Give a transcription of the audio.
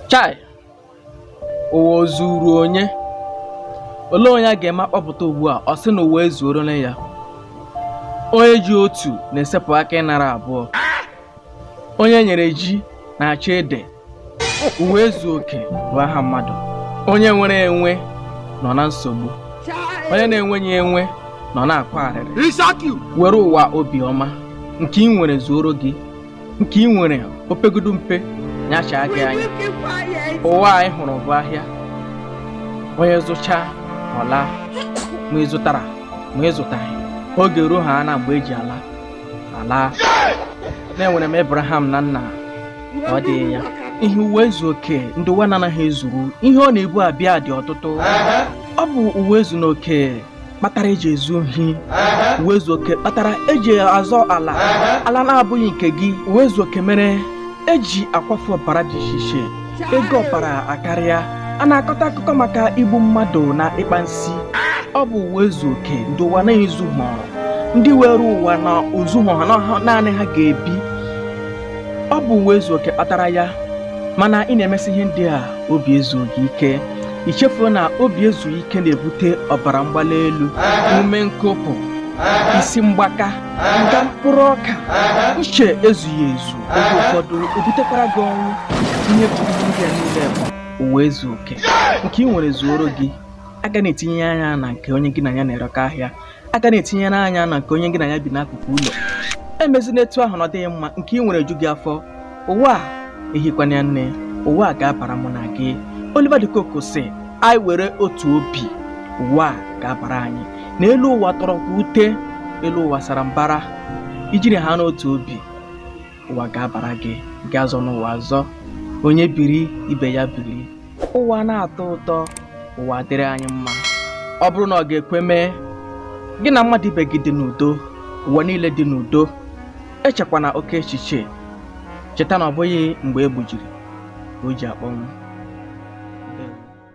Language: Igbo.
chai ụwa o zuru onye olee onye a ga-eme akpọpụta ugbu a ọ sị na ụwa ezuorola ya onye ji otu na-esepụ aka ịnara abụọ onye nyere ji na-achọ ede ụwa ezu oke bụ aha mmadụ onye nwere enwe nọ na nsogbu onye na-enweghị enwe nọ na-akwa arịrị were ụwa obiọma nke i nwere zuoro gị nke i nwere o pegodu mpe nya chaa gị anya ụwa anyị hụrụ bụ ahịa onye zụchaa ọ laa ma ị zụtara ma ị zụtaghị oge ruo ha na mgbe e ji ala a laa na enwere m Abraham na nna ọ dịghị ya ihe ụwa ezu oke ndị ụwa na-anaghị ezuru ihe ọ na-ebu abịa dị ọtụtụ ọ bụ ụwa ezu na oke kpatara e ji ezu ohi ụwa ezu oke kpatara e ji azọ ala ala na-abụghị nke gị ụwa ezu oke mere e ji akwafu ọbara dị iche iche ego ọbara akarịa a na-akọta akụkọ maka igbu mmadụ na ịkpa nsi ọ bụ ụwa ezu oke ndị ụwa na-ezu ha ndị were ụwa na ozu ha na ha naanị ha ga-ebi ọ bụ ụwa ezu oke kpatara ya mana ị na-emesi ihe ndị a obi ezughị ike i chefuo na obi ezughị ike na-ebute ọbara mgbali elu ume nkụpụ isi mgbaka nga mkpụrụ ọka uche ezughị ezu oge ụfọdụ ebutekwara gị ọnwụ ihe bụ ihe ndị a niile bụ ụwa ezu oke nke i nwere zuoro gị agana etinye anya na nke onye gị na ya na-erekọ ahịa agana etinyere anya na nke onye gị na ya bi n'akụkụ ụlọ emezina etu ahụ na ọ dịghị mma nke i nwere ju gị afọ ụwa ehikwana ya nne ụwa ga-abara mụ na gị Oliver de Coque sị anyị were otu obi ụwa ga-abara anyị na elu ụwa tọrọkwa ute elu ụwa sara mbara i jiri ha n'otu obi ụwa ga-abara gị gị azọna ụwa azọ onye biri ibe ya biri ụwa na-atọ ụtọ ụwa dịrị anyị mma ọ bụrụ na ọ ga-ekwe mee gị na mmadụ ibe gị dị n'udo ụwa niile dị n'udo echekwana oke echiche cheta na ọ bụghị mgbe e gbujiri ka o ji akpọnwụ